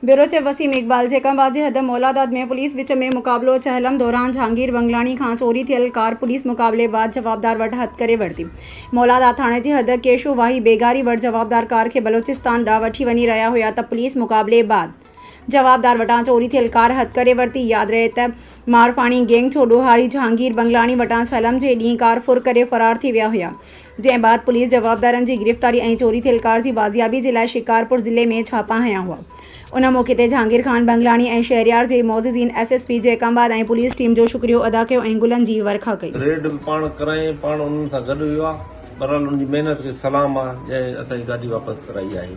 Bureau chief Waseem Iqbal جيڪب واجهه حد مولاداد ۾ پوليس وچ ۾ مقابلو چهلم دوران جهانگير بنگلاڻي کان چوري ٿيل ڪار پوليس مقابلي بعد جوابدار وٽ هٿ ڪري ورتي مولاداد ٿاڻي جي حد ڪيشو واهي بيگاري وٽ جوابدار ڪار کي بلوچستان ڏانهن وٺي وڃي رهيا هيا ته پوليس مقابلي بعد جوابدار وٽان چوري ٿيل ڪار هٿ ڪري ورتي ياد رهي ته مارفاڻي گينگ ڇوڏو هاري جهانگير بنگلاڻي وٽان ڇلم جي ڏينهن ڪار ڦر ڪري فرار ٿي ويا هيا، جنهن بعد پوليس جوابدارن جي گرفتاري ۽ چوري ٿيل ڪار جي بازيابي جي لاء شڪارپور ضلعي ۾ ڇاپا هنيا هئا. ان موقعي تي جهانگير خان بنگلاڻي ۽ شهريار جي معززين S S P Jacobabad ۽ police team جو شڪريو ادا ڪيو ۽ گلن جي ورکا ڪئي. ريڊ به پاڻ ڪرايائين، پاڻ انهن سان گڏ ويو آهي، بهرحال ان جي محنت کي سلام آهي، جنهن اسان جي گاڏي واپس ڪرائي آهي.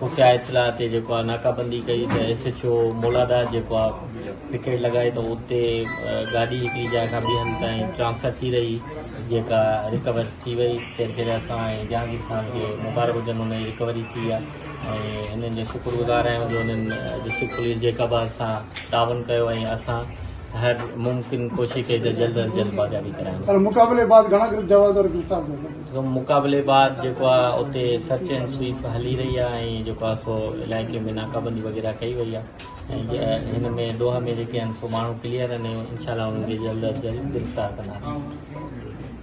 خفيه اطلاع تي جيڪو آ ناڪابندي ڪئي ته ايس ايڇ او مولادار جيڪو آ پڪيٽ لڳائي ته اتي گاڏي هڪڙي جاء کان ٻي هنڌ تائين ٽرانسفر ٿي رهي جيڪا رڪور ٿي وئي خير خير اسان ۽ جهانگير خان کي مبارڪ هجن ان جي رڪوري ٿي آ ۽ انهن جو شڪر گذار آهيون جو انهن ڊسٽرڪٽ پوليس جيڪب آ سان تعاون ڪيو ۽ اسان هر ممڪن ڪوشش ڪئي ته جلد از جلد بازيابي ڪرايون سر مقابلي بعد گهڻا ڪرڪيٽ جواب دار گرفتار ٿيا سر مقابلي بعد جيڪو آهي اتي سرچ اينڊ سويپ هلي رهي آهي ۽ جيڪو آهي سو علائقي ۾ ناڪابندي وغيره ڪئي وئي آهي ۽ هن ۾ ڏوهه ۾ جيڪي آهن سو ماڻهو ڪليئر آهن ۽ انشاء الله انهن کي جلد از جلد گرفتار ڪنداسين